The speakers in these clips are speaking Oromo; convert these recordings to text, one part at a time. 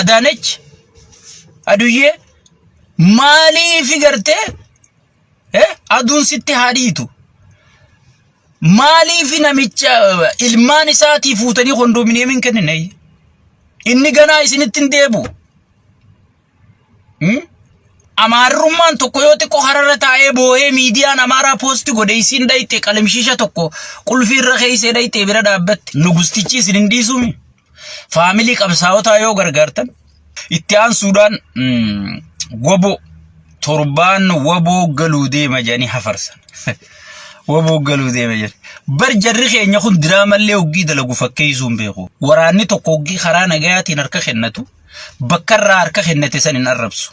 Adaanech aduyyee maaliifi gartee eh, aduun sitti haa dhiitu. Maaliifi namicha eh, ilmaan isaatii fuutanii kondominiyeemiin kennine. Inni ganaa isinitti hin deebu. Hmm? Amaarrummaan tokko yoo xiqqoo hararra taa'ee boo'ee miidiyaan amaaraa poosti godhe isiin dhayxe qalamshiisha tokko qulfii irra keessee dhayxee bira dhaabbatte nugustichi isin hin dhiisumi. Faamilii qabsaawotaa yoo gargaartan itti aansuudhaan mm, waboo torbaan waboo galuu deema jedhanii hafarsan. waboo galuu deema jedhan. Bar jarri keenya kun diraamallee hoggii dalagu fakkeessuu hin beeku. Waraanni tokko hoggii karaa nagayaatiin harka kennatu bakka irraa harka kennate san hin arrabsu.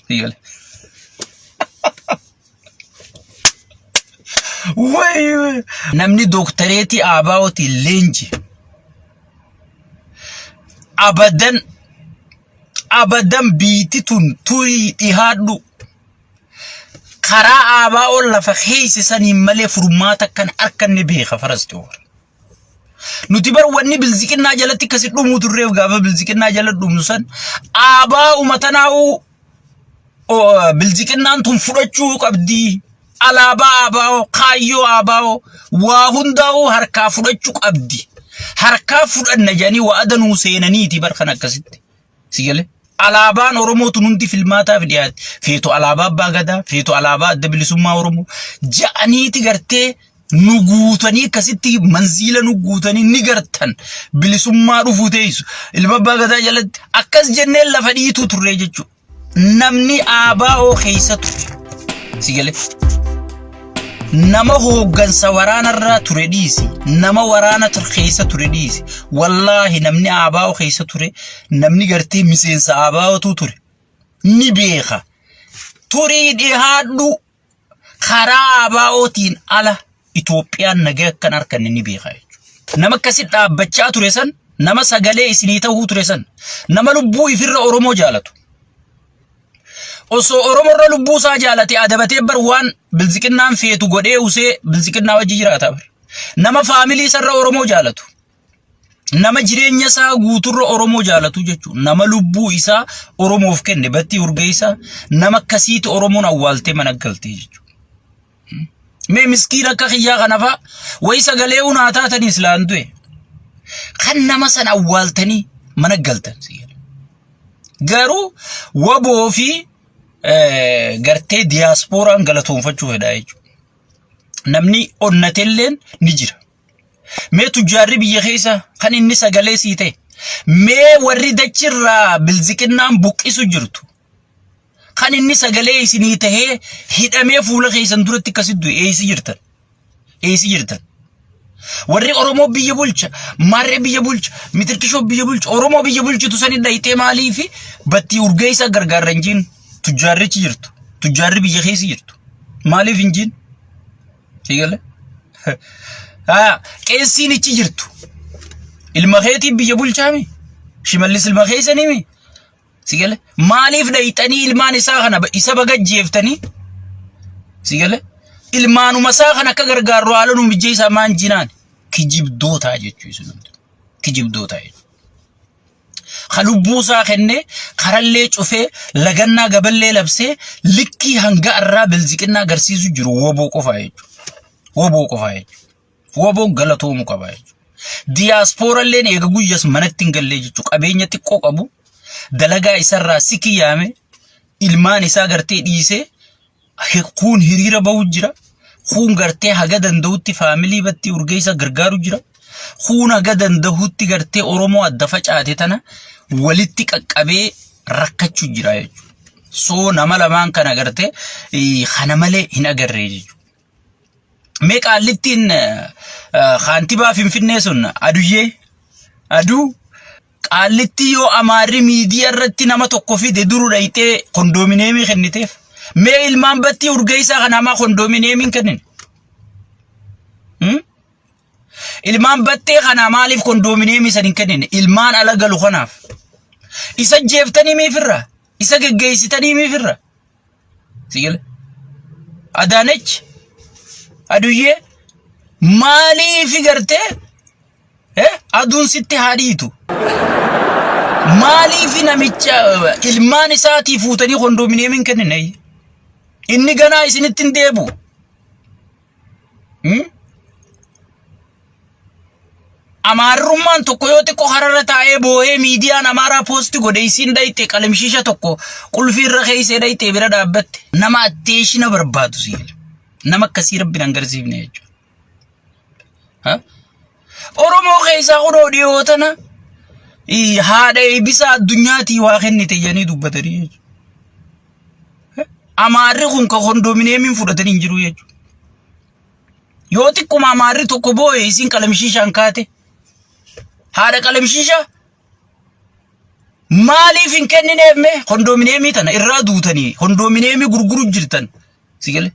Itti gale. Wayi wayi. Namni dooktareetii Aabaa'ootiin leenji. Abadan abadan biitti tun turii dhihaadhu. Karaa Aabaa'oon lafa keessa saniin malee furmaata kan arkanne beeka faras xiyoor. Nuti bar wanni bilziqinnaa jalatti akkasi dhumuu turreef gaafa bilziqinnaa jala dhumnu san aabaa umatanaa'uu bilziqinnaan tun fudhachuu qabdii. Alaabaa aabaa'oo kaayyoo aabaa'oo waa hundaa'uu harkaa fudhachuu qabdi. Harkaa fudhanna jedhanii wa'ada nuu seenaniiti bar kan akkasitti. Si galee? Alaabaan Oromoo tun hundi filmaataaf dhiyaate. Feetu alaabaa Abbaa Gadaa, feetu alaabaa Adda Bilisummaa Oromoo. Ja'aniiti gartee nu guutanii akkasitti manziila nu guutanii ni gartan bilisummaa dhufuu teessu. Ilma Abbaa Gadaa jalatti akkas jennee lafa dhiituu turre jechuudha. Namni ABO keessa ture. Si galee? nama hooggansa waraanarraa ture dhiisi nama waraana tur- keessa ture dhiisi wallaahi namni aabaa'oo keessa ture namni gartee miseensa aabaa'ootu ture ni beeka turii dhihaadhu karaa aabaa'ootiin ala Itoophiyaan nagaa akkan arkanne ni beeka jechuudha. nama akkasi dhaabbachaa ture san nama sagalee isinii ta'uu ture san nama lubbuu ifirra Oromoo jaalatu Osoo Oromoo irra lubbuu isaa jaalate adabatee bar waan bilziqinnaan feetu godhee usee bilziqinnaa wajji jiraata bar. Nama faamilii isarra Oromoo jaalatu. Nama jireenya isaa guuturra Oromoo jaalatu jechuudha. Nama lubbuu isaa Oromoof kenne battii urgeessaa nama akkasiitu Oromoon awwaaltee mana galtee jechuudha. Mee miskiin akka kiyyaa kanafa wayi sagalee hunaa taatanii silaan du'e. Kan nama san awwaaltanii mana galtan siyyadha. Garuu waboo fi eh, gartee diyaaspooraan galatoonfachuu fedhaa jechuudha. Namni onnatelleen ni jira. Mee tujjaarri biyya keessa kan inni sagalee sii ta'e. Mee warri dachirraa bilziqinnaan buqqisu jirtu. Kan inni sagalee isinii tahee hidhamee fuula keessan duratti akkasitti du'e eessa jirtan? Eessa jirtan? Warri Oromoo biyya bulcha, Maarree biyya bulcha, Mitirkishoo biyya bulcha, Oromoo biyya bulchitu sani dhayxee maalii fi battii urgeessaa gargaarra hin jiin tujjaarrichi jirtu. Tujjaarri biyya keessa jirtu. Maaliif hin jiin? Eegale? Haa, qeessiin ichi jirtu. Ilma keetiin biyya bulchaami? Shimallis ilma keessanii mi? Si gale? Maaliif dhayxanii ilmaan isaa kana ba- isa baga jeeftanii? Si gale? Ilmaanuma isaa kana akka gargaarru haala nu mijjeessaa maan jinaan kijibdootaa jechuu isin hundi. Kijibdootaa jechuudha. ka lubbuu isaa kennee karallee cufee lagannaa gaballee labsee likkii hanga irraa bilziqinnaa agarsiisu jiru woboo qofaa jechuudha. Woboo qofaa jechuudha. Waboon galatoomu qaba jechuudha. Diyaaspooralleen eega guyyas manatti hin gallee jechuudha. Qabeenya xiqqoo qabu dalagaa isarraa si kiyyaame ilmaan isaa gartee dhiisee hi- kuun hiriira bahu jira. Kuun gartee haga danda'utti faamilii battii urgeessa gargaaru jira. Kuun haga danda'utti gartee Oromoo adda facaate tana walitti qaqqabee rakkachuu jira jechuudha. Soo nama lamaan kana gartee eh, kana malee hin agarree jechuudha. Mee qaallittiin kaantibaa Finfinnee sun aduyyee aduu qaallittii yoo amaarri miidiyaa irratti nama tokko fide duru dhayxee kondoomineemii kenniteef. Mee ilmaan battii urgeessaa kan hamaa kondoomineemiin kennine. Ilmaan battee kanaa maaliif kondoomineemii san hin kennine? Ilmaan ala galu kanaaf. Isa jeeftanii miifirra? Isa geggeessitanii miifirra? Sigil. Adaanech. Aduyyee. Maaliifi gartee? Eh? Aduun sitti haa dhiitu. Maaliifi namicha eh, ilmaan isaatii fuutanii kondoomineemii hin kennine? Inni ganaa isinitti hin deebi'u. Amaarrummaan tokko yoo xiqqoo hararra taa'ee boohee miidiyaan amaaraa poosti godhe isiin dhayxee qalimshiisha tokko qulfii irra keessee dhayxee bira dhaabbatte nama atteeshina barbaadu siif nama akkasii rabbi nan garsiifne jechuudha. Oromoo keessaa kunoo dhiyoo tana ii, haadha eebbisaa addunyaatii waa kennite jedhanii dubbatanii jechuudha. Amaarri kun ka kondominiyeemiin fudhatanii hin jiru jechuudha. Yoo xiqquma amaarri tokko booye isiin qalamshiishaan kaate haadha qalamshiishaa maaliif hin kennineef mee kondominiyeemii tana irraa duutanii kondominiyeemii gurguru jirtan si galee.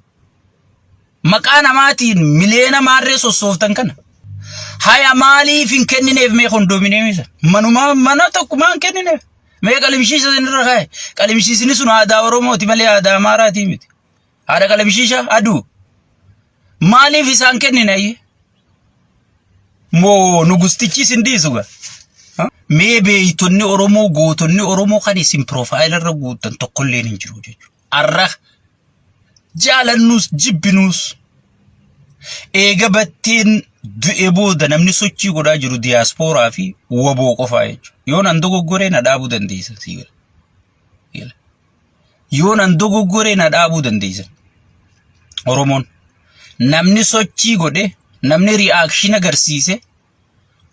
Maqaa namaatiin miliyoona maarree sossooftan kana. Haya maaliif hin kennineef mee kondoominiyeemii sana? Manuma mana tokkumaa hin kennineef. Mee qalimshiisha isinirra kaa'e. Qalimshiisni sun aadaa Oromooti malee aadaa Amaaraatii miti. Haadha qalimshiisha aduu. Maaliif isaan kennine? Moo nugustichi isin dhiisu gaa? Mee beeytonni Oromoo gootonni Oromoo kan isin piroofaayila irra guuttan tokkolleen hin jiru jechuudha. Arra jaalannuus jibbinuus eega batteen du'e booda namni sochii godhaa jiru diyaaspooraa fi waboo qofaa jechuudha. Yoo nan dogoggoree na dhaabuu dandeessan sii gala. Gala. Yoo nan dogoggoree na dhaabuu dandeessan. Oromoon namni sochii godhe namni ri'aakshin agarsiise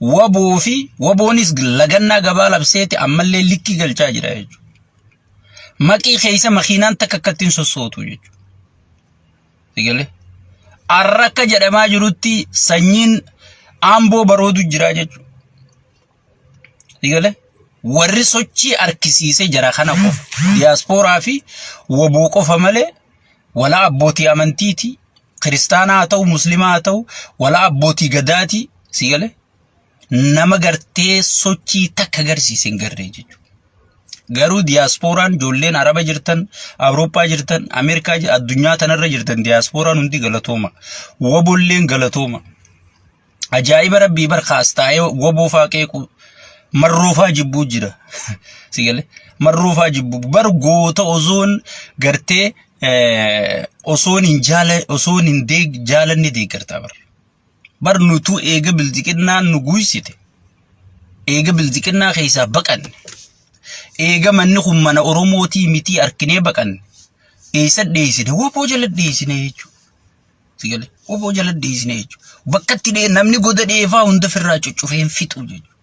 waboo fi waboonis lagannaa gabaa labseeti ammallee likkii galchaa jira jechuudha. Maqii keessa makiinaan takka akkatti hin sossootu jechuudha. Sigalee. Arra akka jedhamaa jirutti sanyiin aamboo baroodu jira jechuudha. Sigalee. Warri sochii argisiise jara kana qofa. Diyaaspooraa fi waboo qofa malee walaa abbootii amantiiti kiristaanaa haa ta'u muslimaa haa ta'u walaa abbootii gadaati si gale nama gartee sochii takka agarsiise hin garree jechuudha. Garuu diyaaspooraan ijoolleen araba jirtan awurooppaa jirtan ameerikaa jir- addunyaa tanarra jirtan diyaaspooraan hundi galatooma wabolleen galatooma. Ajaa'iba rabbii bar kaas taa'ee woboofaa qeequu marroofaa jibbuu jira. Si galee marroofaa jibbuu bar goota osoon gartee eh, osoon hin jaala osoon hin deeg jaalanne deeggartaa bar. Bar nutuu eega bilxiqinnaan nu guysite eega bilxiqinnaa keessaa baqanne eega manni kun mana Oromootii mitii arkinee baqanne eessa dheessine woboo jala dheessine jechuudha. Si galee oboo jala deesine jechuudha. Bakka itti dhee namni goda dheefaa hunda firraa cuccufee hin fixu jechuudha.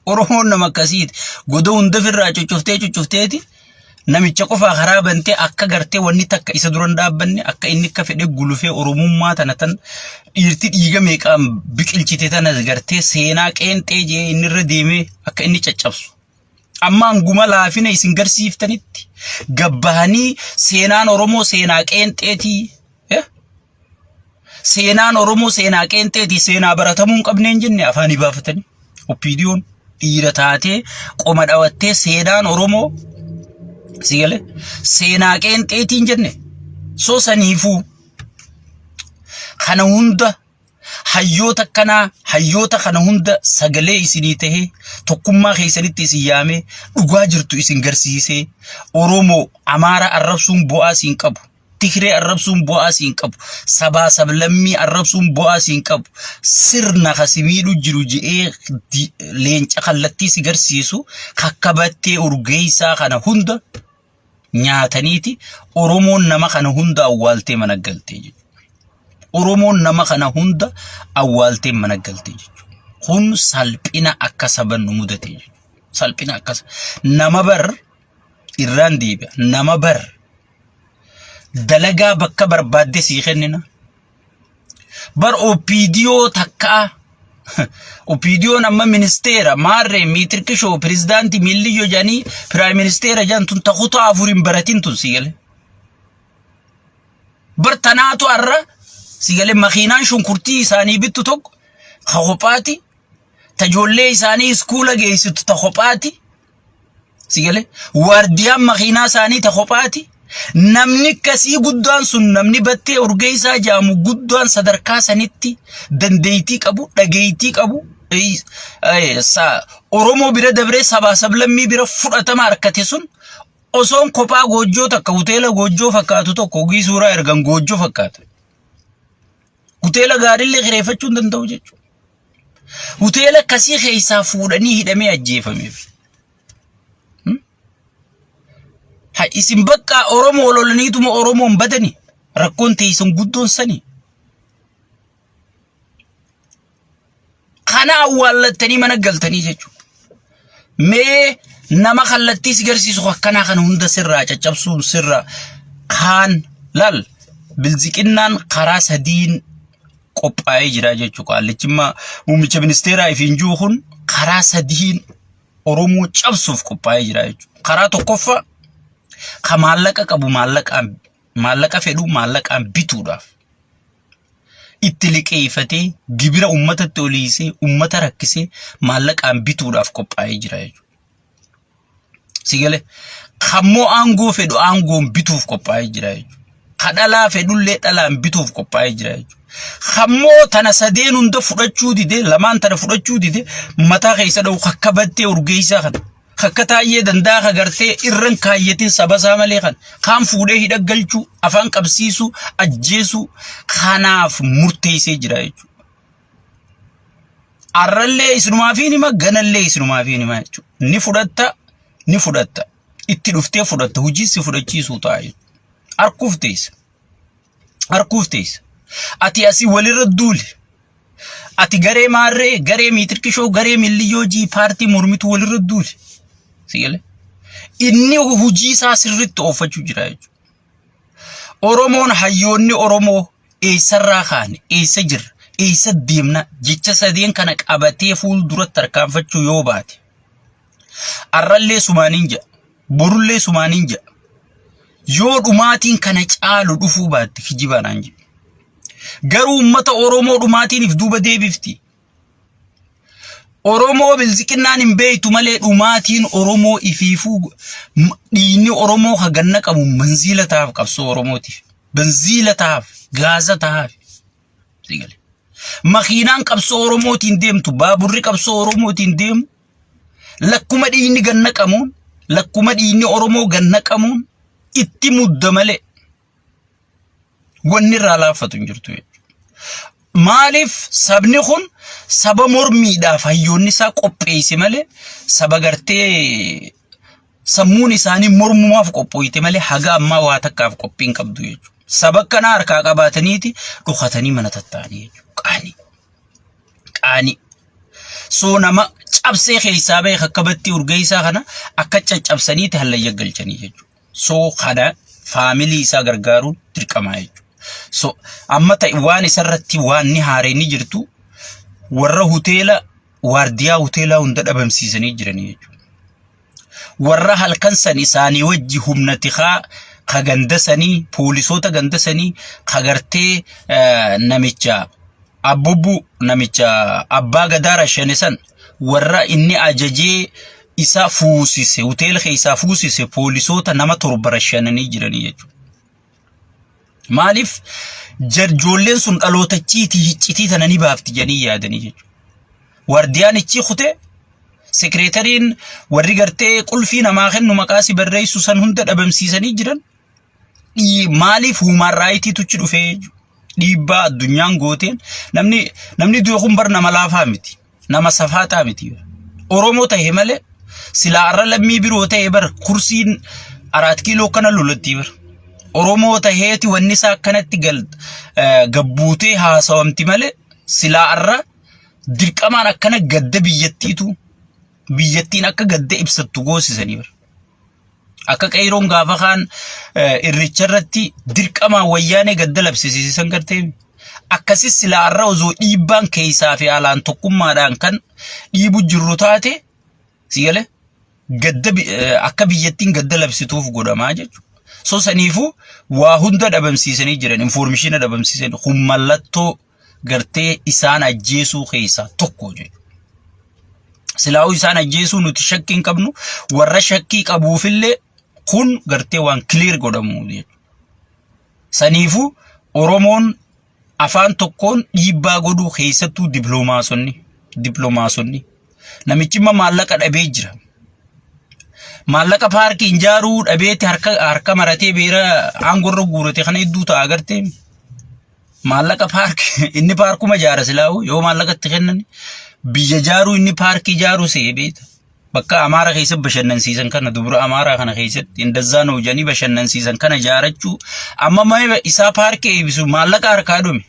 Oromoon nama akkasiiti. Goda hunda firraa cuccuftee cuccufteeti namicha qofaa karaa bantee akka gartee wanni takka isa duran dhaabbanne akka inni akka fedhe gulufee oromummaa tana tan dhiirti dhiiga meeqaan biqilchite tana gartee seenaa qeenxee jee inni irra deemee akka inni caccabsu. Amma hanguma laafina isin garsiiftanitti gabbahanii seenaan Oromoo seenaa qeenxeetii. eh? Seenaan Oromoo seenaa qeenxeetii seenaa baratamuu hin qabne hin jenne afaanii baafatanii. Oppiidiyoon dhiira taatee qoma dhawattee seenaan Oromoo si galee seenaa qeenxeetii hin jenne. So saniifuu kana hunda Hayyoota akkanaa hayyoota kana hunda sagalee isinii tahee tokkummaa keessanitti isin yaamee dhugaa jirtu isin garsiisee Oromoo Amaara arrabsuun bu'aa siin qabu. Tigree arrabsuun bu'aa siin qabu. Sabaa sablammii arrabsuun bu'aa siin qabu. Sirna ka si miidhu jiru je'ee di- leenca kallattii si garsiisu kakkabattee urgeessaa kana hunda nyaataniiti Oromoon nama kana hunda awwaaltee mana galtee jechuudha. Oromoon nama kana hunda awwaaltee mana galtee jechuudha. Kun salphina akka saba nu mudate jechuudha. Salphina akka sa- nama bar irraan deebi'a. Nama bar dalagaa bakka barbaadde sii kennina. Bar OPDO takkaa OPDOn amma ministeera maarree miitirqishoo pirezidaantii miilliyyoo jedhanii piraayim ministeera jedhan tun ta kutaa afur hin baratin tun si galee. Bar tanaatu har'a si galee makiinaan shunkurtii isaanii bittu tokko ka kophaati ta ijoollee isaanii iskuula geessitu ta kophaati Si galee waardiyaan makiinaa isaanii ta kophaati. Namni akkasii guddaan sun namni battee urgeessaa jaamu guddaan sadarkaa sanitti dandeettii qabu, dhageettii qabu, eh, eh, sa- Oromoo bira dabree sabaa sablammii bira fudhatama harkate sun osoon kophaa goojjoo takka hoteela goojjoo fakkaatu tokko ogii suuraa ergan goojjoo fakkaatu. Hoteela gaariillee kireeffachuu hin danda'u jechuudha. Hoteela akkasii keessaa fuudhanii hidhamee ajjeefameef. Ha isin bakka Oromoo lolaniituma Oromoon badani rakkoon teessan guddoon sani. Kana awwaallattanii mana galtanii jechuudha. Mee nama kallattii si garsiisu akkanaa kana hunda sirraa caccabsuun sirra kaan lal bilziqinnaan karaa sadiin qophaa'ee jira jechuudha. Qaallichimmaa muummicha ministeeraa ifiin jiru kun karaa sadiin Oromoo cabsuuf qophaa'ee jira jechuudha. Karaa tokkoffaa ka maallaqa qabu maallaqaan maallaqa fedhu maallaqaan bituudhaaf. itti liqeeffatee gibira uummatatti oliisee uummata rakkisee maallaqaan bituudhaaf qophaa'ee jira jechuudha. Sigalee kammoo aangoo fedhu aangoon bituuf qophaa'ee jira jechuudha. Ka dhalaa fedhullee dhalaan bituuf qophaa'ee jira jechuudha. Kammoo tana sadeen hunda fudhachuu didee lamaan tana fudhachuu didee mataa keessa dha'u kakkabattee urgeessaa kana. kakka taayyee danda'a ka gartee irran kaayyatin saba isaa malee kan kaan fuudhee hidha galchuu afaan qabsiisuu ajjeesuu kanaaf murteessee jira jechuudha. Arrallee isinumaaf hin hima ganallee isinumaaf hin hima jechuudha. Ni fudhatta ni fudhatta itti dhuftee fudhatta hojii si fudhachiisuu ta'a jechuudha. Harkuuf teessa. harkuuf teessa. Ati asii walirra duuli. Ati garee maarree, garee miitirkishoo, garee milliyyoo jii paartii mormitu walirra duuli. Sigalee. Inni hojii isaa sirriitti oofachuu jira jechuudha. Oromoon hayyoonni Oromoo eessarraa kaane, eessa jirra, eessa deemna jecha sadeen kana qabatee fuulduratti tarkaanfachuu yoo baate. Arrallee sumaaniin jedha. Borullee sumaaniin jedha. Yoo dhumaatiin kana caalu dhufuu baatte kijibaanaan jedhe. Garuu uummata Oromoo dhumaatiiniif duuba deebifti. Oromoo bilziqinnaan hin beektu malee dhumaatiin Oromoo ifiifuu m- dhiigni Oromoo kan ganna qabu manziila tahaaf qabsoo Oromootiif. Banziila tahaaf, gaaza tahaaf. Sigale. Makiinaan qabsoo Oromootiin deemtu, baaburri qabsoo Oromootiin deemu Lakkuma dhiigni gad naqamuun, lakkuma dhiigni Oromoo gad naqamuun itti mudda malee wanni irraa laaffatu hin jirtu jechuudha. Maaliif sabni kun saba mormiidhaaf hayyoonni isaa qopheesse malee saba gartee sammuun isaanii mormumaaf qophooyte malee haga ammaa waa takkaaf qophii hin qabdu jechuudha. Saba kana harkaa qabaataniiti dhokatanii mana tattaa'anii jechuudha. Qaanii. qaanii. Soo nama cabsee keessaa bahe akka battii urgeessaa kana akka caccabsaniiti hallayya galchanii jechuudha. Soo kana faamilii isaa gargaaruun dirqamaa jechuudha. So amma ta'e waan isarratti waan ni haareen ni jirtu warra hoteela waardiyaa hoteelaa hunda dhabamsiisanii jiranii jechuudha. warra halkan san isaanii wajji humna tikaa ka ganda sanii poolisoota ganda sanii ka gartee eh, namicha abbubbu namicha abbaa gadaa rashane san warra inni ajajee isa fuusise hoteela keessaa fuusise poolisoota nama torba rashananii jiranii jechuudha. Maaliif jarjoolleen sun dhalootachiitii hiccitii tana ni baafti jedhanii yaadanii jechuudha. Waardiyaan ichii kutee sekireetariin warri gartee qulfii namaa kennu maqaa si barreessu san hunda dhabamsiisanii jiran maaliif huumaan raayitiitu achi dhufee dhiibbaa addunyaan gooteen namni namni du'e kun bar nama laafaa miti. nama safaataa miti bar. Oromoo ta'e malee silaa arra lammii biroo ta'e bar kursiin araat kiiloo kana lolatti bar. Oromoo ta'eeti wanni isaa akkanatti gal eh, gabbuutee haasawamti malee silaa arra dirqamaan akkana gadda biyyattiitu biyyattiin akka gadda ibsattu goosisanii bar. Akka qeeyroon gaafa kaan irricha irratti dirqamaan wayyaanee gadda labsisiisan gartee akkasis silaa har'a osoo dhiibbaan keessaa fi alaan tokkummaadhaan kan dhiibu jirru taate sigale gadda akka biyyattiin gadda labsituuf godhamaa jechuudha. So saniifuu waa hunda dhabamsiisanii jiran infoormishiina dhabamsiisanii kun mallattoo gartee isaan ajjeesuu keessaa tokko jedhu. Silaa'uu isaan ajjeesuu nuti shakkii hin qabnu warra shakkii qabuufillee kun gartee waan kiliir godhamu jedhu. Saniifuu Oromoon afaan tokkoon dhiibbaa godhuu keessattuu diploomaasonni diploomaasonni namichi immoo maallaqa dhabee jira. Maallaqa paarkii hin jaaruu dhabeetti harka harka maratee beera aangorra guurate kana hedduu ta'a agartee. maallaqa paarkii inni paarkuma jaara silaa'u yoo maallaqa itti kennan biyya jaaruu inni paarkii jaaruu se'ee beeta. Bakka Amaara keessa bashannansiisan kana dubra Amaaraa kana keessatti indazzaa nuu jedhanii bashannansiisan kana jaarachuu amma maayila isaa paarkii eebbisu maallaqa harkaa dhume.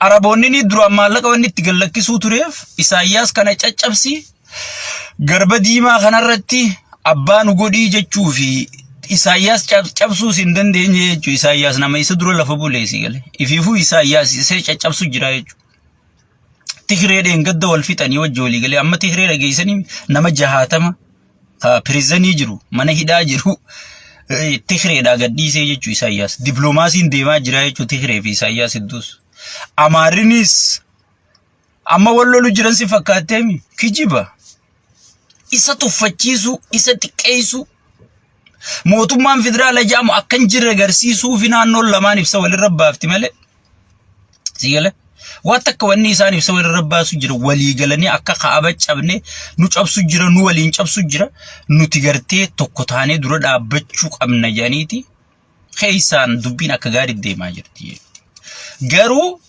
Araboonni ni duraan maallaqa wanni itti gallakkisuu tureef Isaayyaas kana caccabsi Garba diimaa kanarratti abbaa nu godhii jechuu fi Isaayyaas cab- cabsuus hin dandeenye jechuudha. Isaayyaas nama isa dura lafa buleessi gale. Ifiifuu Isaayyaas isee caccabsu jira jechuudha. Tigree dheengadda wal fixanii wajji walii galee amma Tigree dhageessanii nama jahaatama ka pirizanii jiru mana hidhaa jiru eh, Tigreedhaa gadhiisee jechuudha Isaayyaas. Dippiloomaasiin deemaa jira jechuudha Tigree fi Isaayyaas hedduus. Amaarinis Amma wal lolu jiran si fakkaatteemi kijiba. Isa tuffachiisuu, isa xiqqeessuu. Mootummaan federaala jedhamu akka hin jirre agarsiisuu fi naannoon lamaan ibsa walirra baafti malee. Si gala? Waan takka wanni isaan ibsa walirra baasu jira walii galanii akka kaaba cabne nu cabsu jira nu waliin cabsu jira nuti gartee tokko taanee dura dhaabbachuu qabna jedhaniiti keessaan dubbiin akka gaarii deemaa jirti. Garuu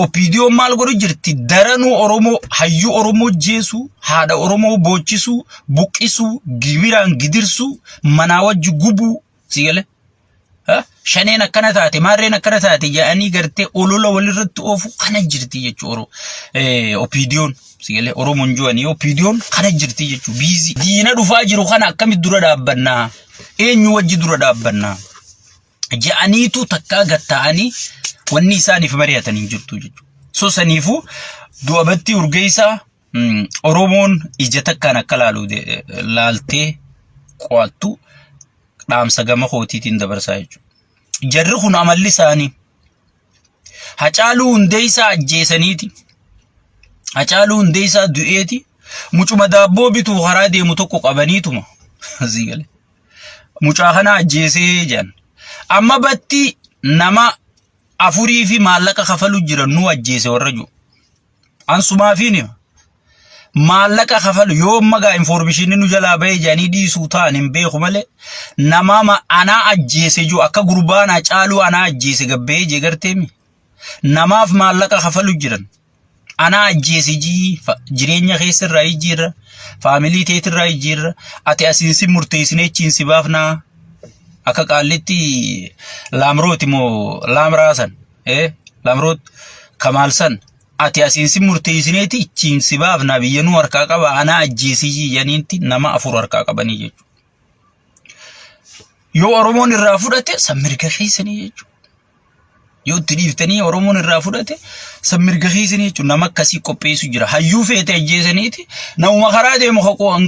opiidiyoon maal godhu jirti daranuu Oromoo hayyuu Oromoo jeesuu haadha Oromoo boochisuu buqqisuu gibiraan gidirsuu manaa wajji gubuu si galee. Shaneen akkana taate maarreen akkana taate jedhanii gartee olola walirratti oofu kana jirti jechuudha opiidiyoon. Sigalee Oromoon jiwanii OPDOn kana jirti jechuun biizii. Diina dhufaa jiru kana akkamitti dura dhaabbannaa? Eenyu wajji dura dhaabbannaa? Ja'aniitu takkaa gatta'anii wanni isaaniif mari'atan hin jirtu jechuudha. So saniifuu du'a battii urgeessaa mm, Oromoon ija takkaan akka laalu de- eh, laaltee qo'attu dhaamsa gama kootiitiin dabarsaa jechuudha. Jarri kun amalli isaanii Hacaaluu Hundeessaa ajjeesaniiti. Hacaaluu Hundeessaa du'eeti. Mucuma daabboo bituu karaa deemu tokko qabaniituma. Asii galee. Mucaa kana ajjeesee jedhan. Amma batti nama afurii fi maallaqa kafalu jiran nu ajjeese warra jiru. Ansumaafiin hima. Maallaqa kafalu yoo magaa infoormishinni nu jalaa bahee jedhanii dhiisuu ta'an hin beeku malee namaama anaa ajjeese jiru akka gurbaa anaa caaluu anaa ajjeese gabbahee jee garteemi. Namaaf maallaqa kafalu jiran. Anaa ajjeese jii fa- jireenya keessa irraa jijjiirra faamilii teet irraa jijjiirra ati asiin si murteessinee achiin si baafnaa akka qaallitti laamrooti moo laamraasan. ee lamroot kamaal san ati asiin si murteessineeti ichiin si baafna biyya nu harkaa qaba anaa ajjeesii janiinti nama afur harkaa qabanii jechuudha. Yoo Oromoon irraa fudhate san mirga keessanii jechuudha. Yoo itti dhiiftanii Oromoon irraa fudhate san mirga keessanii jechuudha. Nama akkasii qopheessu jira. Hayyuu feete ajjeesaniiti namuma karaa deemu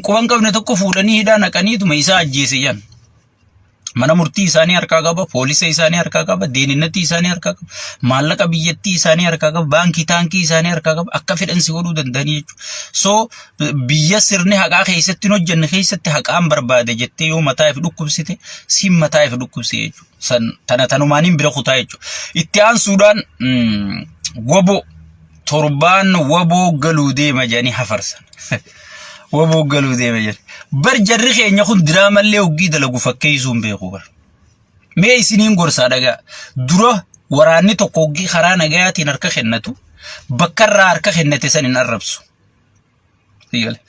quban qabne tokko fuudhanii hidhaa naqaniituma isaa ajjeese jan. Mana murtii isaanii harkaa qaba, poolisa isaanii harkaa qaba, deeninnatii isaanii harkaa qaba, maallaqa biyyattii isaanii harkaa qaba, baankii taankii isaanii harkaa qaba, akka fedhan si godhuu danda'anii jechuudha. So biyya sirni haqaa keessatti hin hojjenne keessatti haqaan barbaade jettee yoo mataa if dhukkubsite siin mataa if dhukkubse jechuudha. San tana tanumaaniin bira kutaa jechuudha. Itti aansuudhaan mm, woboo torbaan waboo galuu deema jedhanii hafarsan. Waboo galuu deema jedhanii. Bar jarri keenya kun diraamallee hoggii dalagu fakkeessuu hin beeku bar. Mee isiniin gorsaa dhagaa. Dura waraanni tokko hoggii karaa nagayaatiin harka kennatu bakka irraa harka kennate san hin arrabsu. Dígale.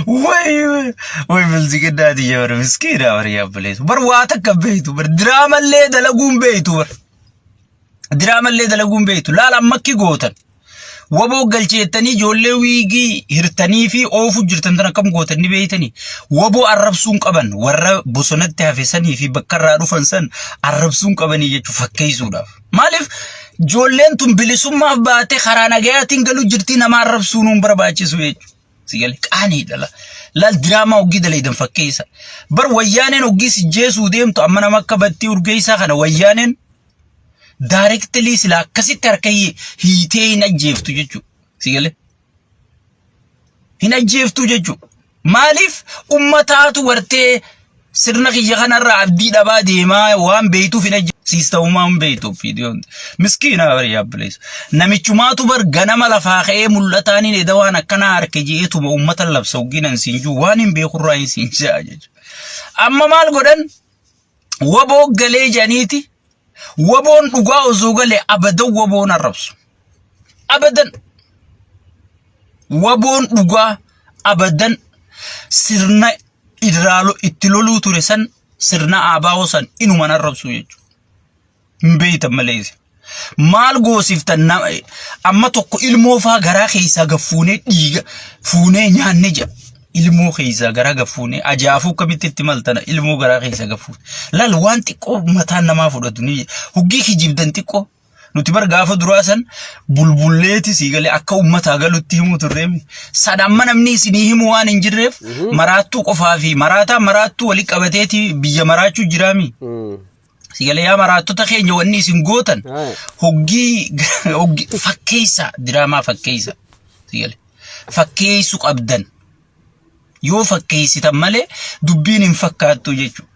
Way, way, way, milziga daadii jabara miskiina bar yaabaleetu. Bar waa takka beektu bar diraamallee dalaguun beektu bar. Diraamallee dalaguun beektu laala ammakki gootan. Waboo galcheettanii ijoollee wiigii hirtanii fi oofu jirtan tan akkam gootan ni beektanii. Waboo arrabsuun qaban warra bosonatti hafesanii fi bakka irraa dhufan san arrabsuun qabanii jechuun fakkeessuudhaaf. Maaliif ijoolleen tun bilisummaaf baatee karaa nagayaatiin galuu jirtii nama arrabsuu nuun barbaachisu jechuudha. Si galee qaanii dhala. Laal diraamaa hoggii daleedan fakkeessa. Bar wayyaaneen hoggii si jeesuu deemtu amma nama akka battii urgeessaa kana wayyaaneen daarektilii sila akkasitti harka hiitee hin ajjeeftu jechuudha. Si galee. Hin ajjeeftuu jechuudha. Maaliif ummataatu wartee sirna kiyya kanarraa abdii dhabaa deemaa waan beektuuf hin ajjeesiista'umaa hin beektuuf viidiyoon. Miskiina bari yaabbileessa. Namichumaatu bar ganama lafaa ka'ee mul'ataan hin eda waan akkanaa harke je'eetuma ummata labsa hoggiinan siin juu waan hin beekurraa hin siin ja'a jechuudha. Amma maal godhan? waboo galee janiiti waboon dhugaa osoo galee abadan waboon arrabsu abadan waboon dhugaa abadan sirna irraa lo- itti loluu ture san sirna aabaa'oo san inuman arrabsu jechuudha. hin beeytan malee isin. maal goosiftan nama amma tokko ilmoo faa garaa keessaa gaffuunee dhiiga fuunee nyaanne jedha ilmoo keessaa garaa gaffuunee ajaa'afuu akkamitti itti maltana ilmoo garaa keessaa gaffuun laal waan xiqqoo mataan namaa fudhatu ni huggii kijibdan xiqqoo nuti bar gaafa duraa san bulbulleeti sii galee akka ummataa galutti himuu turreem san amma namni isinii himu waan hin jirreef maraattuu qofaa fi maraataa maraattuu wali qabateeti biyya maraachuu jiraami. Mm. Sigalee yaa maraattota keenya wanni isin gootan Haa. hoggii hoggii fakkeessa diraamaa fakkeessa sigalee fakkeessu qabdan yoo fakkeessitan malee dubbiin hin fakkaattu jechuudha.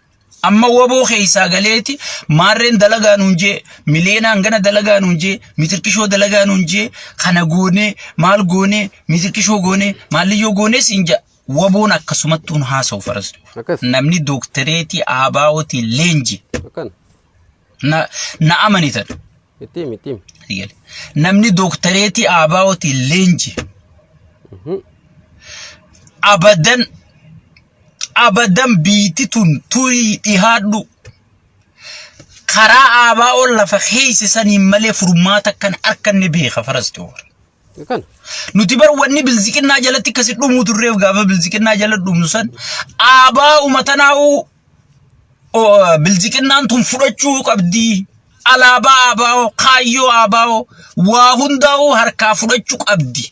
Amma waboo keessaa galeeti maarreen dalagaa nuun jee mileenaan gana dalagaa nuun jee mitirqishoo dalagaa nuun jee kana goonee maal goonee mitirqishoo goonee maalliyyoo goonee siin ja'a. Waboon akkasumattuun haasa'u faras. Akkas. Namni dooktereetii ABOtiin leenji Akkan. na, na amanitan. Itti himi itti himi. Itti gale. Namni dooktereetii ABOtiin leenji Mhm. abadan abadan biiti tun turii dhihaadhu karaa ABOn lafa keeyse saniin malee furmaata kan arkanne beeka faras ta'u. Kan Nuti bar wanni bilziqinnaa jalatti akkasi dhumuu turreef gaafa bilziqinnaa jala dhumnu san aabaa umatanaa'u bilziqinnaan tun fudhachuu qabdi. Alaabaa aabaa'oo kaayyoo aabaa'oo waa hundaa'uu harkaa fudhachuu qabdi.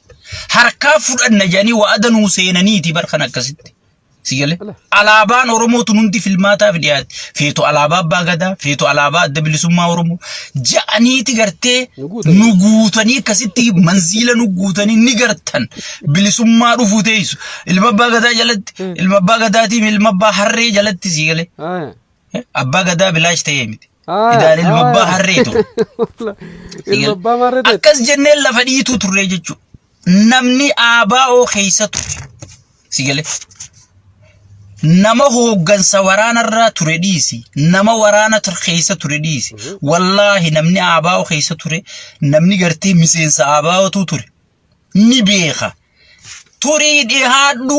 Harkaa fudhanna jedhanii wa'ada nuu seenaniiti bar kan akkasitti. Si galee? Alaabaan Oromoo tun hundi filmaataaf dhiyaate. Feetu alaabaa Abbaa Gadaa, feetu alaabaa Adda Bilisummaa Oromoo. Ja'aniiti gartee Nu guutanii. nu guutanii akkasitti manziila nu guutanii ni gartan. Bilisummaa dhufuu teessu. Ilma Abbaa Gadaa jalatti, ilma Abbaa Gadaatiin ilma Abbaa Harree jalatti si galee. Aya. Abbaa gadaa bilaash ta'ee miti. Aayaa, Idaan ilma abbaa aayaa. harree ture. Ilma abbaa maarree ta'e. Akkas jennee lafa dhiituu turre jechuudha. Namni ABO keessa ture. Si galee. Nama hooggansa waraanarraa ture dhiisi. Nama waraana tur- keessa ture dhiisi. Wallaahi namni ABO keessa ture. Namni gartee miseensa ABOtu ture. Ni beeka. Turii dhihaadhu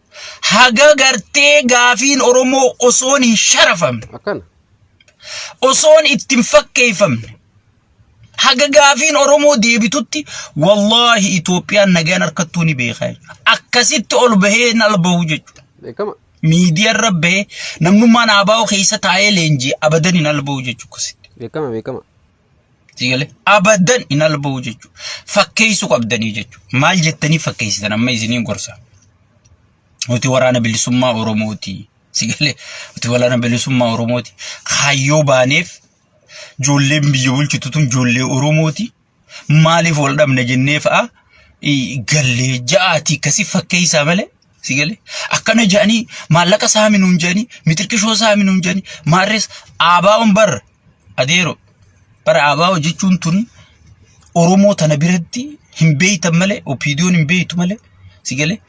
haga gartee gaafiin Oromoo osoon hin sharafamne akkana osoon itti hin fakkeeffamne haga gaafiin Oromoo deebitutti wallaahi Itoophiyaan nagaan harkattuu ni beekaa jechuudha. Akkasitti ol bahee hin albahu jechuudha. beekama Miidiyaa irra bahee namnummaan ABO keessa taa'ee leenjii abadan hin albahu jechuudha. akkasitti. beekama beekama Sigalee abadan hin alba'u jechuudha. Fakkeessuu qabdanii jechuudha. Maal jettanii fakkeessitan amma isiniin gorsa. Nuti waraana bilisummaa Oromooti. Sigalee nuti waraana bilisummaa Oromooti. Kaayyoo baaneef ijoolleen biyya bulchitu tun ijoollee Oromooti. Maaliif wal dhabna jennee fa'a gallee ja'aatii akkasii fakkeessaa malee Si galee akkana jedhanii maallaqa saami nuun jedhanii mitirqishoo saami nuun jedhanii maarrees aabaa'oon bar adeero bara aabaa'oo jechuun tun Oromoo tana biratti hin beeytan malee opiidiyoon hin beeytu malee si galee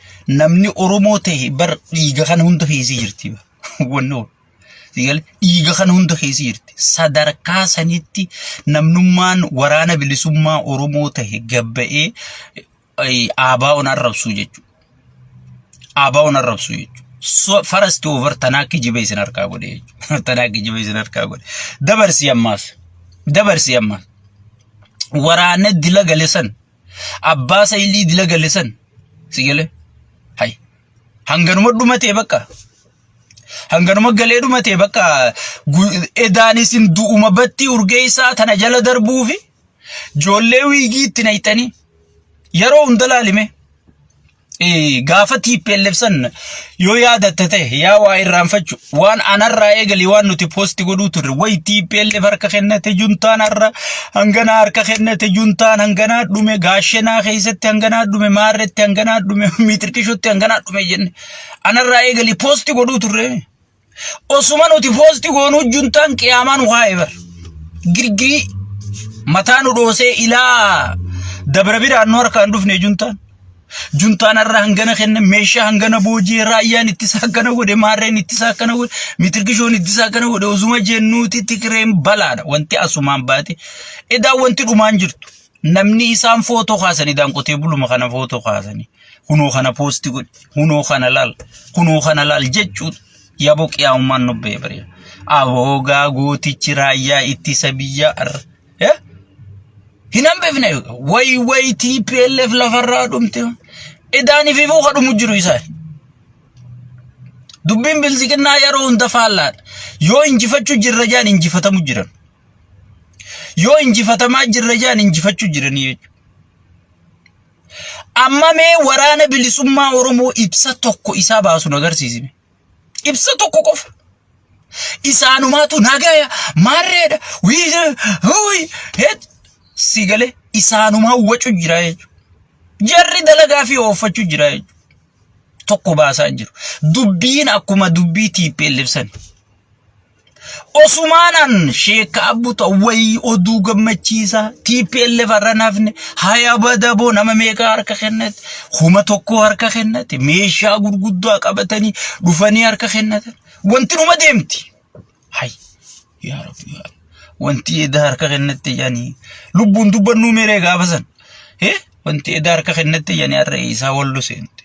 namni Oromoo ta'e bar dhiiga kana hunda keessi jirti wannoo si galee dhiiga kana hunda keessi jirti sadarkaa sanitti namnummaan waraana bilisummaa Oromoo ta'e gabba'ee ABOn arrabsuu jechuudha. ABOn arrabsuu jechuudha. So, first over tanaa kijiba isin harkaa godhe jechuudha. Tanaa kijiba isin harkaa godhe. Dabarsii ammaaf. Dabarsii ammaaf. Waraana dila galesan. Abbaa saylii dila galesan. Si galee? Hay. Hanganuma dhumatee bakka. hanganuma galee dhumatee bakka edaan isin du'uma battii urgeessaa tana jala darbuufi Ijoollee wiigii itti nayxanii yeroo hunda laalime gaafa TPLF san yoo yaadatte ta'e yaa waa irraanfachu waan anarraa eegali waan nuti poosti godhuu turre wayi TPLF harka kennate juntaan har'a hanganaa harka kennate juntaan hanganaa dhume gaashenaa keessatti hanganaa dhume maarretti hanganaa dhume miixirqishotti hanganaa dhume jenne anarraa eegali poosti godhuu turre. Osuma nuti poosti goonuu juntaan qiyaamaan waa ebar. Girgirii mataa nu dhoosee ilaa dabra biraan nu harkaan dhufne juntaan. Juntaan har'a hangana kenna meeshaa hangana boojii raayyaan ittisa akkana godhe maarreen ittisa akkana godhe mitirgishoon ittisa akkana godhe osuma jennuuti tikireen balaadha wanti asumaan baate edaa wanti dhumaan jirtu. Namni isaan footoo kaasanii daanqotee buluma kana footoo kaasanii kunoo kana poosti godhi kunoo kana laal kunoo kana laal jechuun yaboo qiyaa'ummaan nubbee bari'a. Aboo gaa gootichi raayyaa ittisa biyyaa arra. Eh? Hin hambifne wayi wayi TPLF lafarraa dhumte. Idaan ififuu ka dhumu jiru isaan. Dubbiin bilisiqinnaa yeroo hunda faallaadha. Yoo injifachuu jirra jaan injifatamu jiran. Yoo injifatamaa jirra jedhan injifachuu jiranii jechuudha. Amma mee waraana bilisummaa Oromoo ibsa tokko isaa baasu agarsiisime. Ibsa tokko qofa. Isaanumaatu nagaya maarreedha wiiza huuyi heet si galee isaanumaa wacu jira jechuudha. Jarri dalagaa fi ooffachuu jira jechuudha. Tokko baasaa jiru. Dubbiin akkuma dubbii TPLF sani. Osumaan an sheekka abbu ta'u wayii oduu gammachiisa TPLF irra nafne haya badaboo nama meeqa harka kennate kuma tokko harka kennate meeshaa gurguddaa qabatanii dhufanii harka kennatan wanti dhuma deemti. Hay yaa rabbi yaa rabbi. wanti edaa harka kennate yani lubbuun dubbannuu meeree gaafa san. Eh wanti edaa harka kennate yani har'a isaa wallo seente.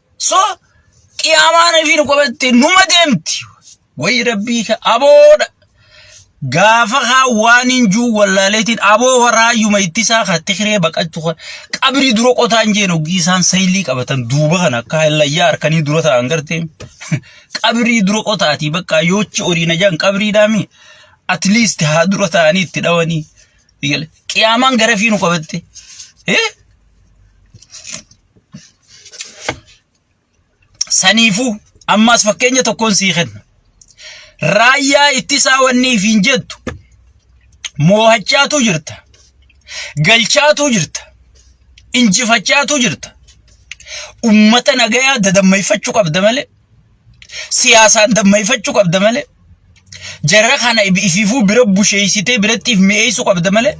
So qiyaamaan ofii nu qabatte numa deemti. Wayi rabbii ka aboodha. Gaafa haa waan hin juu wallaaleetiin aboo waraayyuma ittisaa ka tikiree baqachu kan qabrii dura qotaan jeen oggii isaan saylii qabatan duuba kan akka hallayyaa harkanii dura ta'an gartee qabrii dura qotaatii bakka yoochi horii na jaan qabrii daami at least haa dura ta'anii itti dhawanii qiyaamaan garafii nu qabatte. Eh? Saniifuu ammaas fakkeenya tokkoon sii kenna. Raayyaa ittisaa wanni ifiin jettu moohachaatu jirta. Galchaatu jirta. Injifachaatu jirta. Ummata nagayaa dadammeeffachuu qabda malee siyaasaan dammayfachuu qabda malee jarra kana ifiifuu bira busheessitee birattiif mi'eessuu qabda malee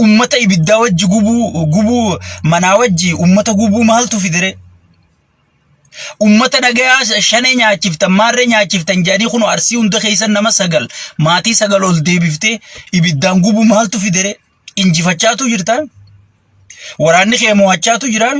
ummata ibiddaa wajji gubuu gubuu manaa wajji ummata gubuu maaltu fidire ummata nagayaa shanee nyaachiftan maarree nyaachiftan jedhanii kun arsii hunda keessan nama sagal maatii sagal ol deebiftee ibiddaan gubuu maaltu fidire injifachaatu jirtaan waraanni kee mo'achaatu jiraan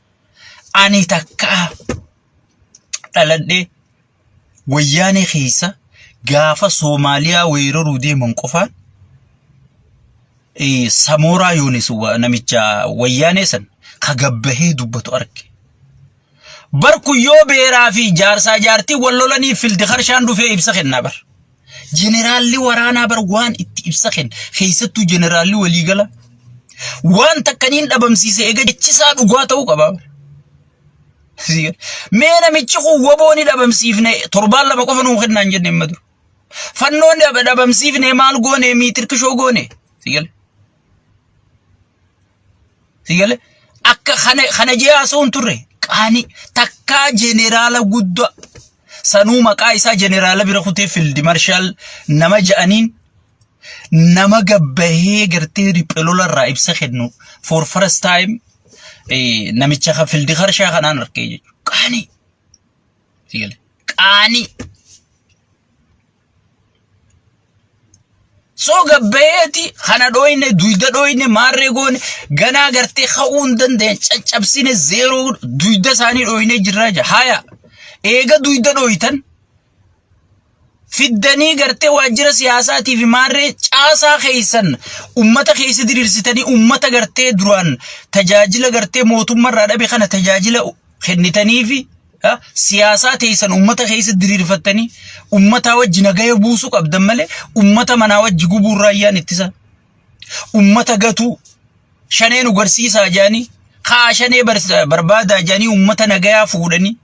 Ani takkaa dhaladhee wayyaanee keessa gaafa Soomaaliyaa weeraruu deeman qofaan eh, Samooraa Yoonis wa- namicha wayyaanee san ka gabbahee dubbatu arge. Bar kun yoo beeraa fi jaarsaa jaartii wal lolanii fildi harshaan dhufee ibsa kennaa bar. Jeneraalli waraanaa bar waan itti ibsa kenna. Keessattuu jeneraalli waliigala waan takka niin dhabamsiise egaa jechisaa dhugaa ta'uu qaba. Mee namichi kun waboo ni dhabamsiifne torbaan lama qofa nuu kennaan jenne hin madu. Fannoon dhabamsiifne maal goone miitirkishoo goone. Sigale. Sigale akka kana kana ji'aasoo hin turre qaani takkaa jeneraala guddaa sanuu maqaa isaa jeneraala bira kutee fiildi marshaal nama ja'aniin nama gabbahee gartee riphee lola irraa ibsa kennu for first time eh, namicha kan fiildi harshaa kanaan argee jechuudha. Qaani. Sigale. Qaani. So gabbayeeti kana dhooyne duyda dhooyne maarree goone ganaa gartee ka'uu hin dandeenye caccabsine zeeroo duyda isaanii dhooyne jirraa jira haya eega duyda dhooytan fiddanii gartee waajjira siyaasaatii fi maarree caasaa keessan ummata keessa diriirsitanii ummata gartee duraan tajaajila gartee mootummarraa dhabe kana tajaajila kennitanii fi ha, siyaasaa teessan ummata keessa diriirfattanii ummataa wajji nagaya buusuu qabdan malee ummata manaa wajji gubuu raayyaan ittisa ummata gatuu shanee nu garsiisaa jaanii kaa shanee barsa- barbaadaa jaanii ummata nagayaa fuudhanii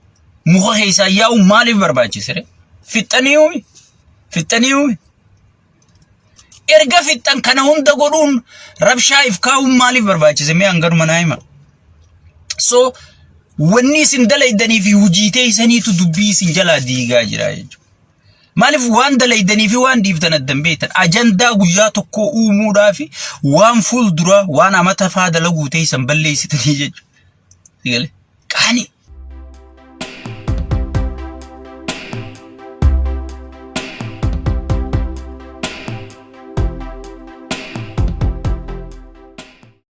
muka keessaa yaa'u maaliif barbaachisire fixxanii uumi fixxanii uumi Erga fixxan kana hunda godhuun rabshaa if kaa'uun maaliif barbaachise mee hanganuma naa hima. So wanni isin dalaydanii fi hujii teeysaniitu dubbii isin jalaa diigaa jira jechuudha. Maaliif waan dalaydanii fi waan dhiiftan addan beektan ajandaa guyyaa tokkoo uumuudhaa fi waan fuul duraa waan amata faa dalaguu teeysan balleeysitanii jechuudha. Sigale. Qaani.